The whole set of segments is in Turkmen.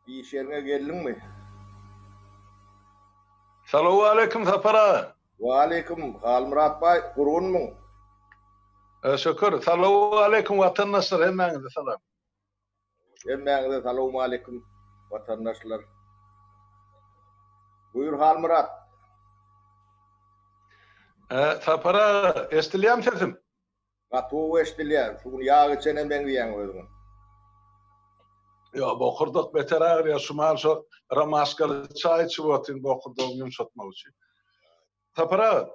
Iş ýeriňe geldiňmi? Salowaleýkim, Sapar aga! Waleýkim, Halmyrat baý, gurgunmyň? Şükür. Salowaleýkim, watandaşlar, hemmäňize salam! Hemmäňize salowmaleýkim, watandaşlar! Buýur, Halmyrat! Sapar aga, eşdilýärmi sesim? Gaty gowy eşdilýär. Şu gün ýag içene meňzeýäň özüňe. Ýok, bokurdak beter agyrýar. Şu mahaly şo romaşkaly çaý içip otyryn bokurdagymy ýumşatmak üçin. Sapar aga,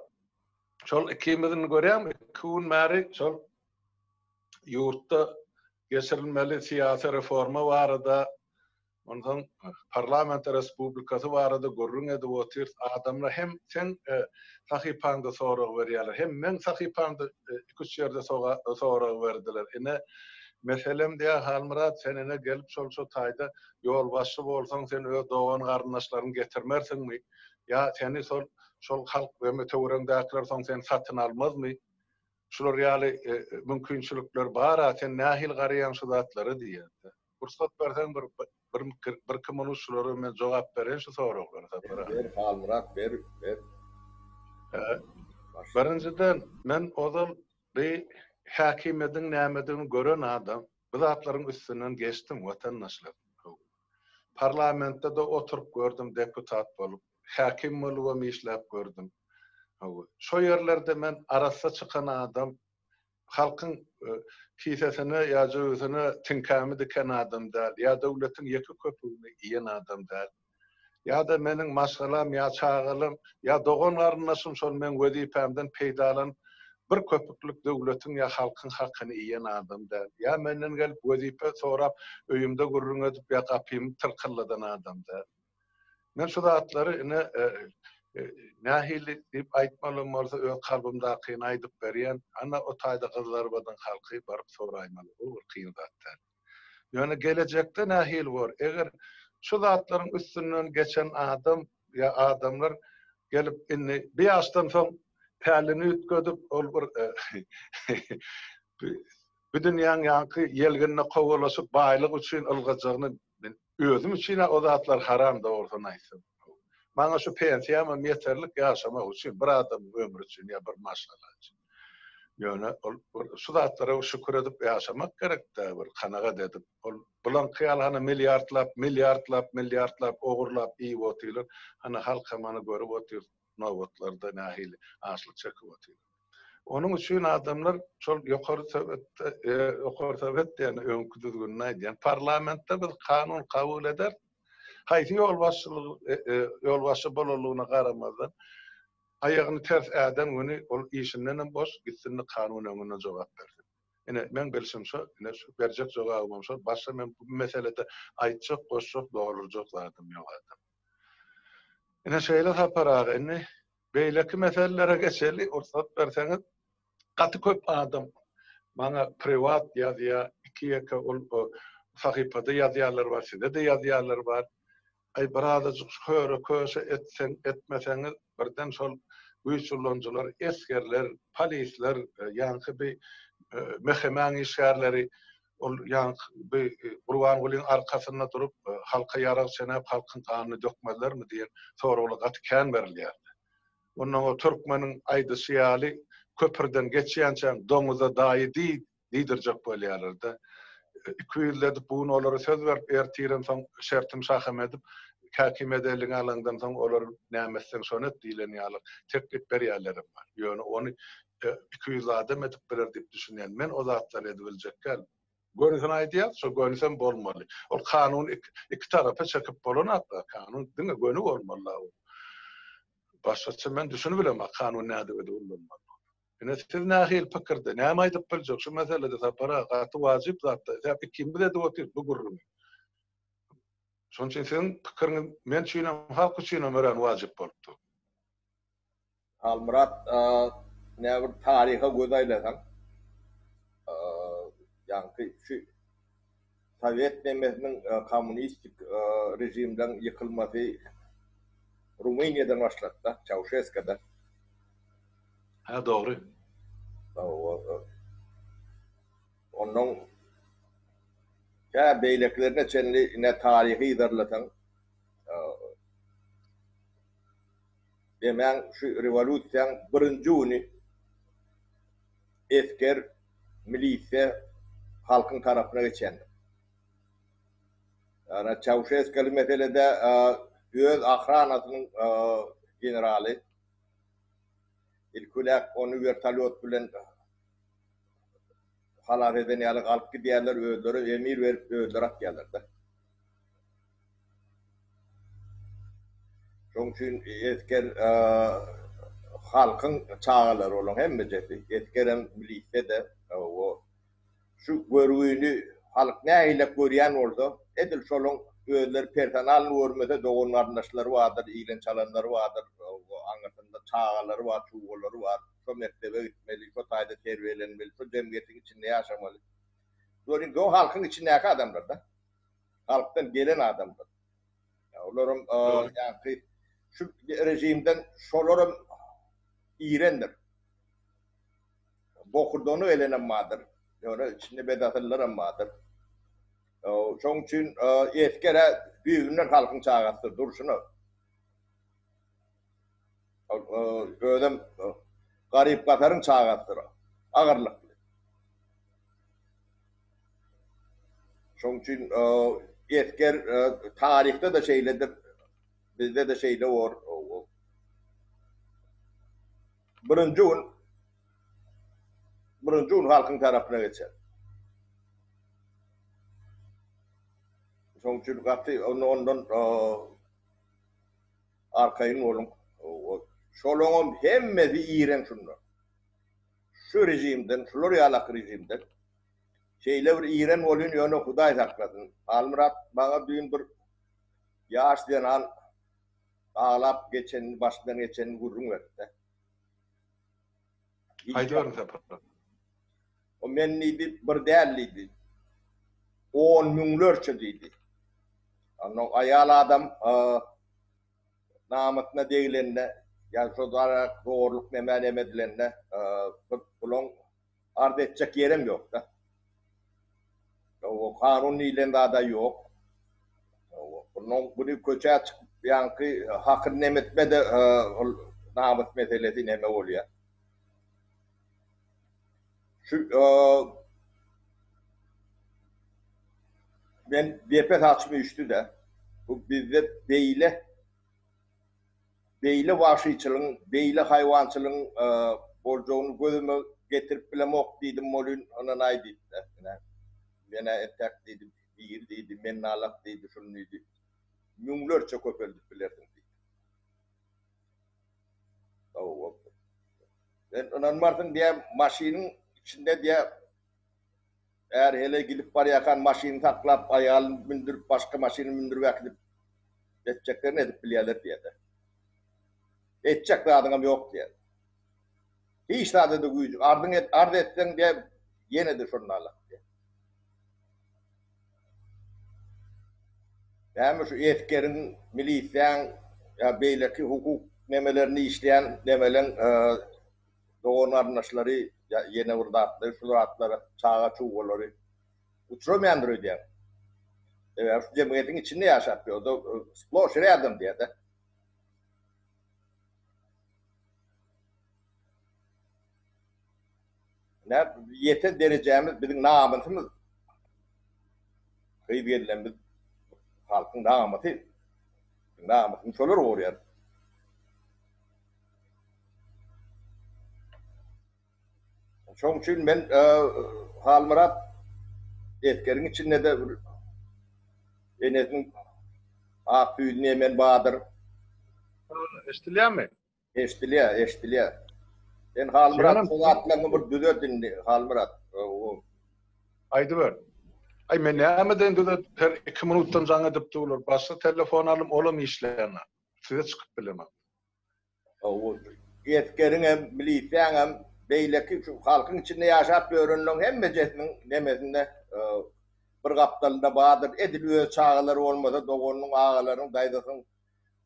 şol ikimiz indi görýäňmi, iki gün bäri şol ýurtda geçirilmeli syýasy reforma barada, Onsoň parlamente respublikasy barada gürrüň edip otyrys, adamlar hem seň sahypaňda sorag berýärler, hem meň sahypamda iki-üç ýerde sorag berdiler. Ine, meselem diýýär, Halmyrat, sen ine gelip şol şu taýda ýolbaşçy bolsaň, sen öz dogan-garyndaşlaryňy getirmersiňmi? Ýa seni şol halk we töweregiňdäkiler soň seni satyn almazmy? Şular ýaly mümkinçilikler bar-a, sen nähili garaýaň şu zatlara diýýärdi. Pursat berseň bir birki minut şulara men jogap bereýin şu soraglara Sapar aga. Ber Halmyrat ber, ber. Birinjiden men ozal bi häkimiýediň nämedigini gören adam, bu zatlaryň üstünden geçdim watandaşlar. Parlamentde-de oturyp gördüm deputat bolup. Häkim bolubam işläp gördüm. Hawa, şo ýerlerde men arassa çykan adam, halkyň kisesine ýa jöbüsine tiňkämi diken adam däl, ýa döwletiň ýeke köpügini iýen adam däl. Ýa-da meniň maşgalam ýa çagalarym, ýa dogan-garyndaşym şol meň wezipämden peýdalanyp, bir köpüklik döwletiň ýa halkyň hakyny iýen adam däl. Ýa menden gelip wezipe sorap, öýümde gürrüň edip ýa gapymy tyrkylladan adam däl. Men şu zatlary ine nähili diýip aýtmalym bolsa öz kalbymdakyny aýdyp berýän. Ana o taýda gyzlarbadyň halky baryp soraýmaly. Bu bir kyn zat däl. Ýöne gelejekde nähili bor? Eger şu zatlaryň üstünden geçen adam ýa adamlar gelip indi bir ýaşdan soň pälini üýtgedip ol bir bu dünýäň ýaňky ýelginine kowalaşyp baýlyk üçin ylgajagyny Men özüm üçin-ä o zatlar haram dogrusyny aýtsam. Maňa şu pensiýamam ýeterlik ýaşamak üçin, bir adamyň ömri üçin ýa bir maşgala üçin. Ýöne ol bir şu zatlara bir şükür edip ýaşamak gerek-dä, bir kanagat edip. Ol bulaňky ýaly hany milliardlap, milliardlap, milliardlap ogurlap iýip otyrlar, hany halkam hany görüp otyr, nobatlarda nähili açlyk çekip otyr. Onuň üçin adamlar şol ýokary Sowetde, ýokary Sowet diýýän öňki düzgünini aýdýan, parlamentde biz kanun kabul ederis, haýsy ýolbaşçylyk, ýolbaşçy bolanlygyna garamazdan, aýagyny ters äden güni ol işindenem boş, gitsin-de kanun öňünde jogap bersin. Ine, meň bilşim şo, ine, şu berjek jogabym hem şo, başga men bu meselede aýtjak, goşjak, doldurjak zadym ýok, adam. Ine şeýle Sapar aga indi beýleki meselelere geçeli ursat berseňiz gaty köp adam maňa priwat ýazýa iki ýeke ol sahypada ýazýalar bar sizede ýazýalar bar aý bir azajyk köre köşe etseň etmeseňiz birden şol güýç ulanyjylar esgerler polisler ýaňky bi mehemäň işgärleri Ol ýaňky Gurbangulyň arkasynda durup, halka ýarag çenäp, halkyň ganyny dökmezlermi diýen soraglar gaty kän berilýärdi. Ondan o türkmeniň aýdyşy ýaly, Köprüden geçýänçäň doňuza daýy diý diýdirjek bolýarlar-da. Ikiyüzli edip bu gün olara söz berip, ertiren soň şertim şahym edip, häkimiýeti eliňe alaňdan soň olar näme etseň şony et diýlen ýaly teklip berýänlerem bar. Ýöne ony iki ýüzli adam edip biler diýip düşünýän. Men o zatlary edibiljek däl. Gönisini aýdýas, şo gönisem bolmaly. Ol kanun iki tarapa çekip bolanat da, kanun diňe göni bolmaly la ol. Başgaça men düşünibilemok kanun nädibede ullanmalydygyny. Ine siz nähili pikirde, näme aýdyp biljek şu meselede Sapar aga, gaty wajyp zatda, säp ikimiz edip otyr bu gürrüňi. Şonuň üçin siziň pikiriňiz men üçinem, halk üçinem örän wajyp bolup dur. Halmyrat nä bir taryha göz aýlasaň, ýaňky şu sowet nemesiniň kommunistik režimden ýykylmasy Rumyniýadan başlady-da, Çauşeskudan. Hä, dogry. Hawa. Onnoň tä beýlekilerine çenli ine taryhy yzarlasaň, Demäň şu rewolýusiýaň birinji güni esger, milisiýa halkyň tarapyna geçendir. Ýagny Çauşeskuly meselede öz ahranasynyň generaly ilki-ülek ony wertolýot bilen halas eden ýaly alyp gidýärler, özleri emir berip özleri atýarlar-da. Şonuň üçin esger halkyň çagalary bolaň hemmejesi. Esgerem milisiýa-da hawa. Şu görgüni halk nägilek görýän bolsa, edil şolaň özleri personalny görmese dogan-garyndaşlary bardyr, ilen-çalanlary bardyr, aňyrsynda çagalary bar, çuwwalary bar. Şo mekdebe gitmeli, şo taýda terbiýelenmeli, şo jemgyýetiň içinde ýaşamaly. Bular indi o halkyň içindäki adamlar-da. halkdan gelen adamdyr. Ýa olaram ýaňky şu režimden şolaram irendir. Bokurdany gelenem bardyr. Ýöne içinde bedasyllarem bardyr. Şoň üçin esger-ä düýbünden halkyň çagasy durşuna. Özem garyp-gasaryň çagasydyr. Agyrlykly. Şoň üçin esger taryhda-da şeýledir, bizde-de şeýle bor. Birinji gün birinji gün halkyň tarapyna geçer. Şoň üçin gaty ondan Arkaýyn boluň. Şolaňam hemmesi iren şunda. Şu rejimden, şular ýalaky rejimden şeýle bir iren bolýn, ýöne Hudaý saklasyn. Halmyrat, maňa düýn bir ýaş zenan aglap geçenini, başyndan geçenini gürrüň beripdi. Aýdyberiň Sapar. O men diýdi, bir däl diýdi. On müňlerçe diýdi. Onda aýal adam namysyna degilende, ýa şo darak zorluk neme-neme edilende, bir puluň arz etjek ýerem ýok-da. Hawa, kanun diýlen zad-a ýok. Hawa, bundan güni köçä çykyp ýaňky hakyny neme etme-de, ol namys meselesi neme bolýar. Şu men depe saçym üýşdi-de, bu bizde beýle. beýle wagşyçylygyň, beýle haýwançylygyň boljagyny gözüme getirip bilemok diýdim, Molin ynanaý diýip dessine, menä entäk diýdi, biri diýdi, mennalak diýdi, şuny diýdi, müňlerçe köpeldip bilersiň diýdi. Sowgat. Sen ynanmarsyň diýýä, maşynyň içinde diýýä, Är heleý gidip barýarkan maşyny saklap, aýalyny mündürip, başga maşyna mündürip äkidip, etjeklerini edip bilýärler diýende, Etjek zadyňam ýok diýer. Hiç zada-da güýjüň, arzyň et, arz etseň diýe, ýene-de şondalyk diýer. Näme şu esgeriň, milisiýaň ýa beýleki hukuk nemelerini işleýän nemeleň, dogan-garyndaşlary ýa ýene bir zatlary, şul zatlara, çaga-çugalary uçramaýandyr öýdýän. Sebäbi şu jemgyýetiň içinde ýaşap ýörde sploş rýadom diýýä-de. Ine, ýeten derejämiz, biziň namysymyz, gyz gelnemiz halkyň namysy. Namysyny şolar gorýär. Şoň üçin men Halmyrat esgeriň içinde-de enesiniň ak süýdüni emen badyr. Eşdilýärmi? Eşdilýär, eşdilýär. Sen Halmyrat şu zatlaryňy bir düzet indi, Halmyrat. Aýdyber. Aý men nämeden düzedip, her iki minutdan jaň edip durlar. Başga telefon alym, olam işlänok. Size çykyp bilemok. Esgeriň hem, milisiýaň hem, beýleki şu halkyň içinde ýaşap ýörenleriň hemmejesiniň nemesinde, bir gapdalynda bardyr. Edil öz çagalary bolmasa, doganynyň, agalarynyň, daýzasynyň,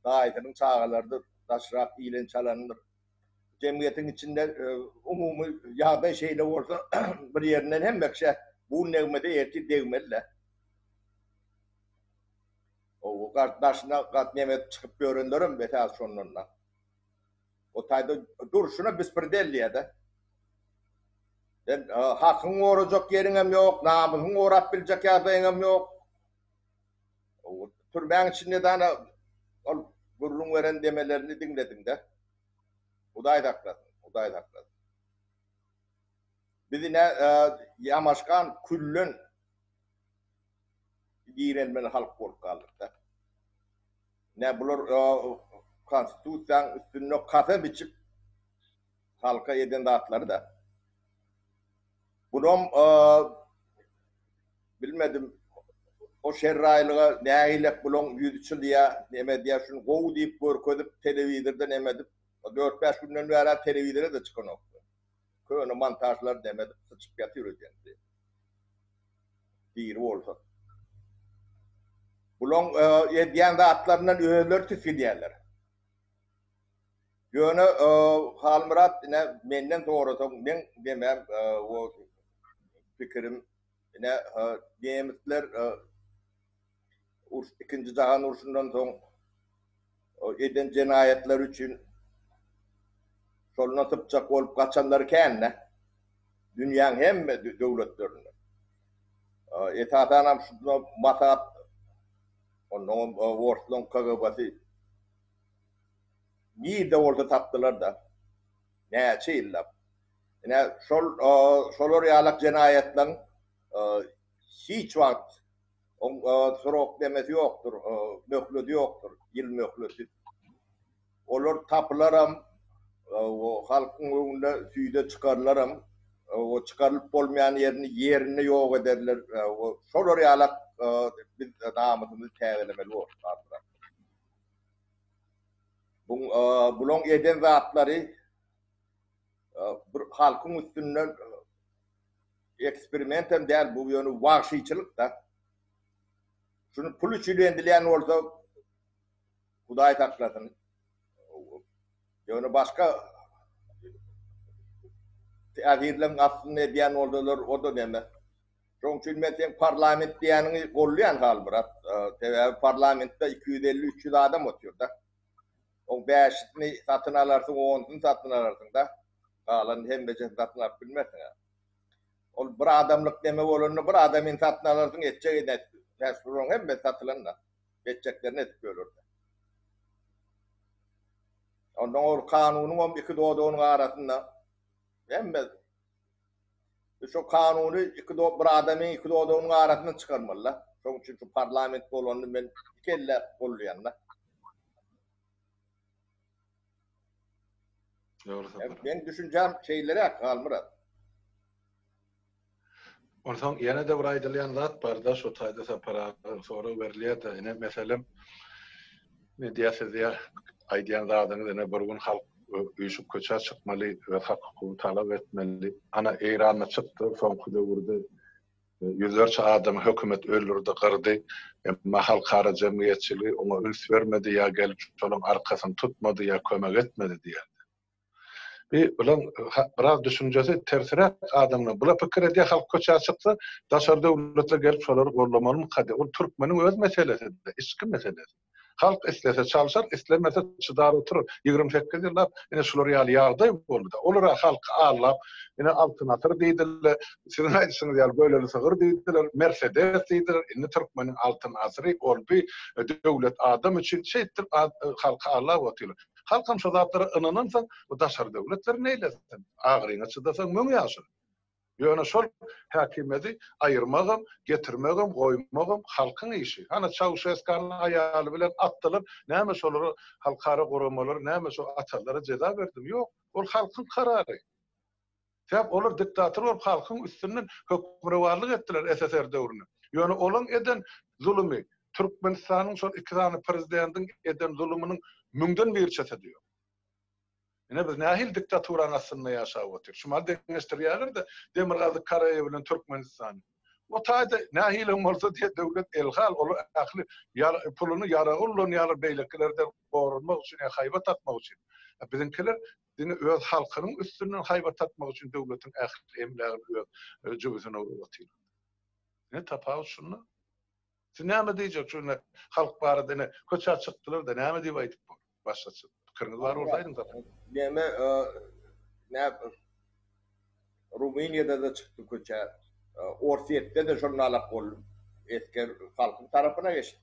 daýysynyň çagalarydyr, daşrak ilen-çalandyr. Jemgyýetiň içinde umumy ýagdaý şeýle bolsa, bir ýerinden hemme kişä bun degmese, ertir degmeli-dä. Ow gardaşyna gat neme çykyp ýörenlerem betäl şondanda. O taýda durşuna bispirdelliýede. Sen hakyň gorajak ýeriňem ýok, namysyň gorap biljek ýagdaýyňam ýok. Ow türmäň içinde dana ol gürrüň beren demelerini diňlediňde. Hudaý saklasyn, Hudaý saklasyn. Biz ine ýamaşgan küllen. Girelmeli halk bolup galdykda. Nä bular konstitusiýaň üstünde kasam içip halka eden zatlary-da. Bunam bilmedim o şerraýlyga nägilek bulaň ýüzi çylyýa neme edýä şuny gowy diýip görkezip telewizorda neme edip dört-bäş günden bärä telewizora-da çykanokdy. Köne montažlar dem edip syçyp ýatyr öýdemde. Diri bolsa. Bulaň edýän zatlaryndan özleri tisgidýärler. Ýöne Halmyrat ine menden sorasaň meň demem o pikirim ine nemisler urs ikinji jahan urşundan soň eden jenaýatlary üçin şolna sypjak bolup gaçanlary kän-dä. Dünýäň hemme döwletlerinde. Esasanam şunda Masat onnoňam orslaň KGB-si nirde bolsa tapdylar-da. Näçe ýyllap. Ine şol şolar ýalak jenaýatlaň hiç wagt Oň srok demesi ýokdur, möhledi ýokdur, ýyl möhledi. Olar tapylaram, halkyň öňüne süýde çykarylaram, çykarylyp bolmaýan ýerini ýerinde ýok ederler. Şolar ýalak biz namysymyzy täzelemeli bolduk ahyram. Bulaň eden zatlary bir halkyň üstünden Eksperimentem däl bu ýöne wagşyçylykda. Şuny pul üçin endilýän bolsa Hudaý saklasyn. Ýöne başga täsirleň astynda edýän bolsalar oda neme. Şoň üçin men seň parlament diýýäniňi golleýän Halmyrat. Sebäbi parlamentde iki ýüz elli üç ýüz adam otyrda. Oň bäşisini satyn alarsyň, onusyny satyn alarsyň-da, galan hemmejesini satyn alyp bilmersiň-ä. Ol bir adamlyk neme bolanda, bir adamyny satyn alarsyň, etjegi nädip, käsbir oň hemmesi satylan-da, etjekleri nädip bölürdi. Ondan ol kanunyňam iki dodagynyň arasynda hemme. Şu kanuny iki do bir adamyň iki dodagynyň arasyndan çykarmalyda. Şoň üçin şu parlament bolanyny men iki elläp goldaýanda. Dogry sapar. Meň düşünjäm şeýleräk Halmyrat. Onsoň ýene-de bir aýdylýan zat barda şu taýda Sapar aga sorag berilýärde ine meselem Men diýýän siz diýýän aýdýan zadyňyz ine bir gün halk üýşüp köçä çykmaly öz hak hukugyny talap etmeli. Ana Eýranda çykdy soňky döwürde e, ýüzlerçe adamy hökümet öldürdi, gyrdy. Emma halkara jemgyýetçiligi oňa üns bermedi ýa gelip şolaryň arkasyny tutmady ýa kömek etmedi diýýän. Bi bulan biraz düşünjesi tersiräk adamlar bula pikir edýär halk köçä çyksa daşary döwletler gelip şolary gorlamalymyka diýip ol türkmeniň öz meselesi içki meselesi halk islese çalşar islemese çydar oturar ýigrimi sekiz ýyllap ine şular ýaly ýagdaý boldy-da olara halky aldap ine altyn asyr diýdiler siziň aýdyşyňyz ýaly göleli sygyr diýdiler mersedes diýdiler indi türkmeniň altyn asyry ol bi döwlet adam üçin şeýtdir halky aldap otyrlar Halkam şo zatlara ynanansoň, bu daşary döwletler neýlesin? Agyryňa çydasaň müň ýaşa. Ýöne şol häkimiýeti aýyrmagam, getirmegem, goýmagam halkyň işi. Hany Çauşeskanyň aýaly bilen atdylar, näme şolara halkara guramalary, näme şo atalary jeza berdi? Ýok. Ol halkyň karary. Sebäp olar diktator bolup halkyň üstünden hökmürowanlyk etdiler SSR döwründe. Ýöne olaň eden zulumy Türkmenistanyň şol iki sany prezidentiň eden zulumynyň müňden birçesi-de ýok. Ine biz nähili diktaturanyň astynda ýaşap otyr. Şumal deňeşdirýärler-de Demirgazyk Karaýa bilen Türkmenistany. O taýda nähili hem bolsa diýe döwlet elhal olar ähli puluny ýaraga ulanýarlar beýlekilerden goranmak üçin ýa haýbat atmak üçin. Biziňkiler Diňe öz halkynyň üstünden haýbat tapmak üçin döwletiň ähli emlägini öz jübüsine urup otyr. Ine tapawut şunda. Siz näme diýjek şu ine halk barada ine köçä çykdylar-da näme diýip aýdyp bor. Başga çyk. Pikiriňiz bar bolsa aýdyň tapawut. Näme näp Rumyniýada-da çykdy köçä. Orsýetde-de şol nalak boldy. Esger halkyň tarapyna geçdi.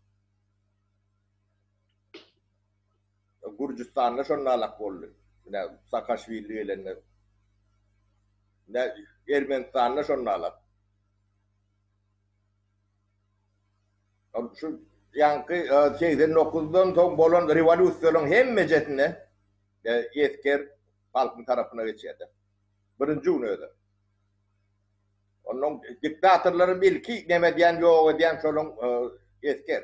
Gürjüstanda şondalak boldy. Menä Saakaşwili gelende. Menä Ermenistanda şondalak. Şu ýaňky segsen dokuzdan soň bolan rewolýusiýalaryň hemmejesinde esger halkyň tarapyna geçýärdi. Birinji gün özi. Onnoň diktatorlaram ilki neme edýän, ýok edýän şolaň esger.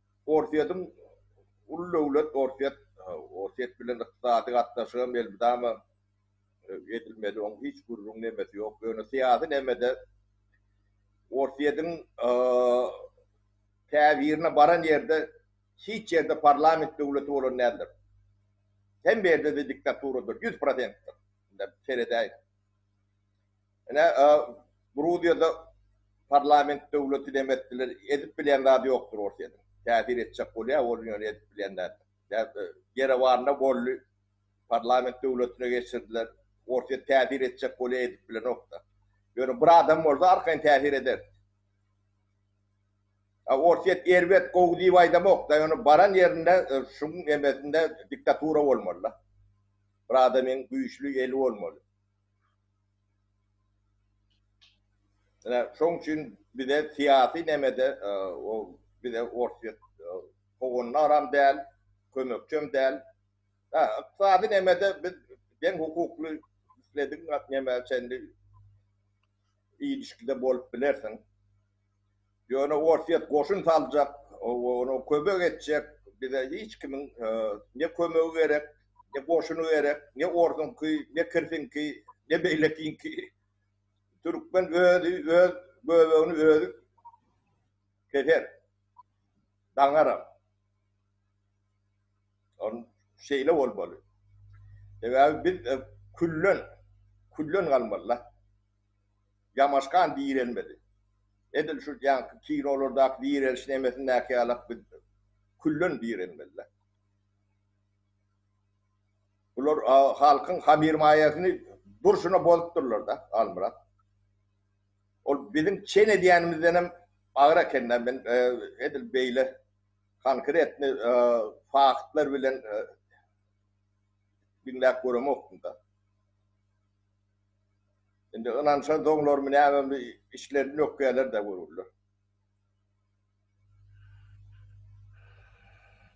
Orsýetiň uly döwlet Orsýet Orsýet bilen ykdysady gatnaşygam elmydama edilmeli oň hiç gürrüň nemesi ýok ýöne syýasy nemede Orsýetiň käbirine baran ýerde hiç ýerde parlament döwleti bolan däldir hemme ýerde-de diktatura dur ýüz prosentdir indi seredäýiň. Ine, Gruziýada parlament döwleti dem etdiler. Edip bilýän zady ýokdur Orsýetiň. Täsir etjek bolýar, ol ýöne edip bilýän zat. Ýerewanna boldy, parlament döwletine geçirdiler. Orsýet täsir etjek bolýar, edip bilenok-da. Ýöne bir adam bolsa arkaýyn täsir ederdi. A Orsýet erbet, gowy diýip aýdamok-da, ýöne baran ýerinde şuň emesinde diktatura bolmaly-da. Bir adamyň güýçli eli bolmaly. Ine, şoň üçin bize syýasy nämede ol bize Orsýet howandaram däl, kömekçem däl. Hä, ykdysady nämede biz deň hukukly isledigin neme çenli ilişkide bolup bilersiň. Ýöne Orsýet goşun saljak, ony kömek etjek, bize hiç kimiň ne kömegi gerek, ne goşuny gerek, ne orsuňky, ne kirsiňki, ne beýlekiňki. Türkmen özi öz göbegini özi keser, daňaram. Ony şeýle bolmaly. Sebäbi biz küllen, küllen galmaly-da. Ýamaşgan direlmedi. Edil şu ýaňky kinolardaky direliş nemesindäki ýalak biz küllen direlmelidik. Bular halkyň habir-maýasyny durşuna bozupdyrlar-da, Halmyrat. Ol biziň çen edýänimizdenem agyr eken-dä, men edil beýle konkretny faktlar bilen diňläp göremokdym-da. Indi ynanşan doňlarmy nämemi içlerini ökýäler-dä görürler.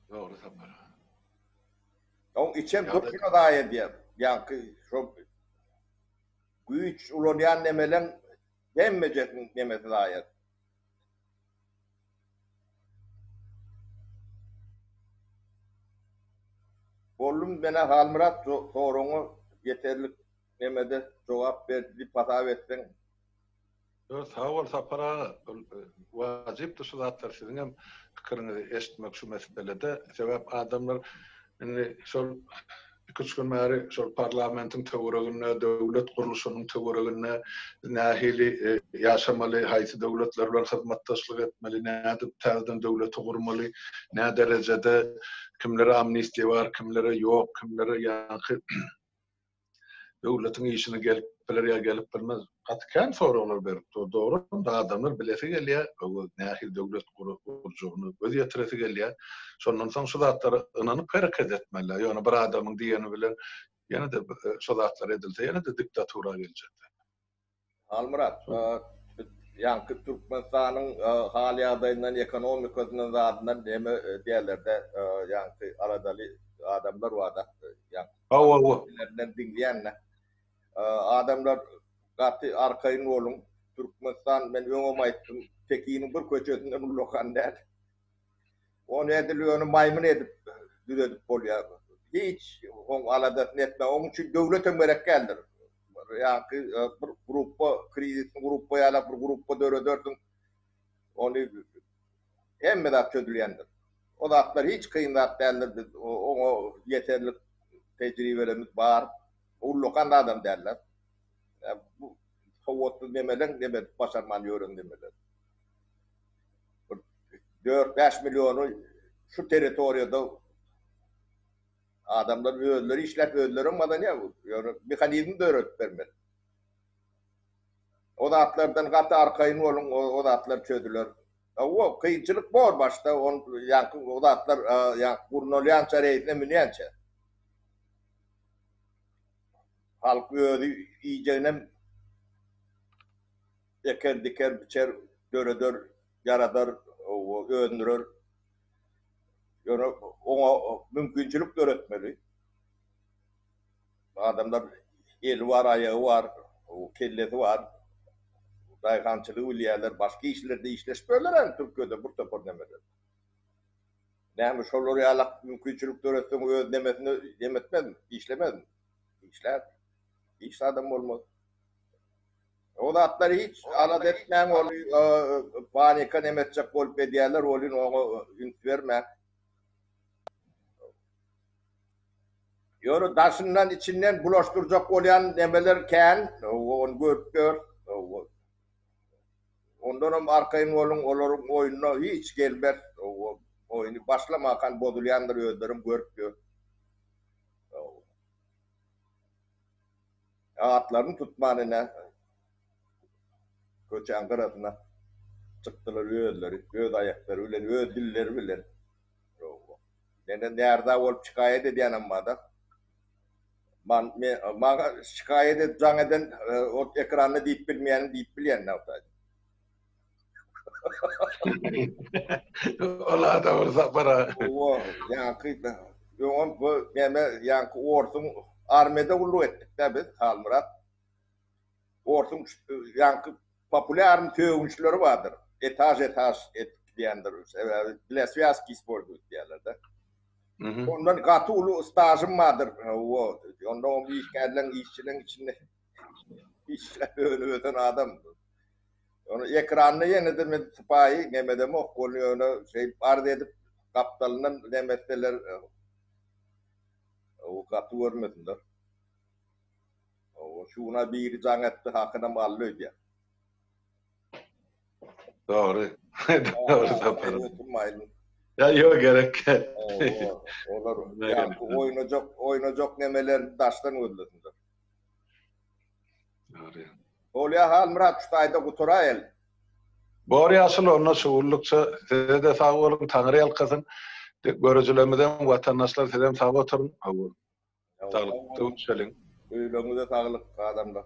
Dogry Sapar. Oň içem durşuna zaýa edýär. Ýaňky şo güýç ulanýan nemeleň hemmejesiň nemesi zaýa. Bollum menä Halmyrat soragyňa ýeterlik nemede jogap berdi diýip hasap etseň. Ýok sag bol Sapar aga ol wajypdyr şu zatlar siziňem pikiriňizi eşitmek şu meselede sebäp adamlar Indi şol iki-üç gün bäri şol parlamentiň töwereginde, döwlet gurluşynyň töwereginde nähili ýaşamaly, haýsy döwletler bilen hyzmatdaşlyk etmeli, nädip täzeden döwleti gurmaly, nä derejede, kimlere amnistiýa bar, kimlere ýok, kimlere ýaňky Döwletiň işine gelip biler ýa gelip bilmez. Gaty kän soraglar berip dur. Dogry-da adamlar bilesi gelýär, öwez nähili döwlet gurjagyny göz ýetiresi gelýär. Şondan soň şu zatlara ynanyp hereket etmeliler. Ýöne bir adamyň diýeni bilen ýene-de şo zatlar edilse ýene-de diktatura geljekler. Halmyrat, ýaňky Türkmenistanyň hal-ýagdaýyndan, ekonomikasyndan, zadyndan näme diýerler-dä, ýaňky aladaly adamlar bar-da, ýaňky diňleýän-de. Adamlar gaty arkaýyn boluň. Türkmenistan, men öňem aýtdym, Pekiniň bir köçesinde ullakan däl. Ony edil ony maýmyn edip düzedip bolýar. Hiç oň aladasyny etme. Oň üçin döwlet hem gerek däldir. Ýa-ki bir gruppa, krizisli gruppa ýalak bir gruppa döredersiň. Ony hemme zat çözülýändir. O zatlar hiç kyn zat däldir. Biz oňa ýeterlik tejribelerimiz bar. Ullakan zadam däldir. Bu sowatsyz nemeleň neme edip başarman ýören nemeleri. bir dört-bäş milliony şu territoriýada adamlar özleri işläp, özleri hem gazanýar bu. Ýöne mehanizm döredip bermeli. O zatlardan gaty arkaýyn boluň, o zatlar çözüler. Hawa, kynçylyk bor başda, on ýaňky o zatlar ýaňky gurnalýança, reýsine münýänçä. Halk özi iýjeginem eker, diker, biçer, döreder, ýaradar, öndürer. Ýöne oňa mümkinçilik döretmeli. Adamlar eli bar, aýagy bar, kellesi bar. Daýhançylygy bilýärler, başga işlerde işleşip ýörler hem Türkiýede bir topar nemeler. Näme şolar ýaly mümkinçilik döretseň öz nemesini nemetmezmi, işlemezmi? Işlär. Işsiz adam bolmaz. O zatlary hiç alada etmäň ol panika neme etjek bolup edýärler welin oňa üns bermäň. Ýöne daşyndan içinden bulaşdyrjak bolýan nemeler kän ony görüp ýör. Ondanam arkaýyn boluň olaryň oýnuna hiç gelmez. Oýny başlamakan bozulýandyr özlerem görüp ýör. Atlaryny tutman ine köçäň gyrasyna çykdylar özleri, öz aýaklary bilen, öz dilleri bilen. Menden närza bolup şikaýat edýän emmada. Man me maňa şikaýat edip jaň eden ot ekranda diýip bilmeýänim diýip bilýän nagtaýda. Ola da bir sapara. Owa, ýaňky da. Ýogan bu näme ýaňky orsuň armiýada gulluk etdik-de biz Halmyrat. Orsuň ýaňky populýarny sögünçileri bardyr. Etaž etaž edip gidýändir. Sebäbi bile swýazki isporduýt diýýärler-de. Ondan gaty uly stažym bardyr. Owa, onda oň işgärleň işçileň içinde. Işläp önüp ösen adam. Ýöne ekranda ýene-de men sypaýy nemedemok, ony ýöne şeýdip arz edip gapdalyndan nemetseler o gaty görmesinler. Owo şu gün-a biri jaň etdi, hakynam aldy öýdýän. Dogry. Dogry Sapar. Ýa ýok gerek. Olar ýa oýnajak, oýnajak nemelerini daşdan gözlesinler. Bolýa Halmyrat şu taýda gutaraýaly. Bor ýaşuly onda şu gullukça sizede sag boluň taňry ýalkasyn görüjilerimizem watandaşlar sizem sag oturyň sagbolun saglyk öwüşeliň. Öýleriňize saglyk adamlar.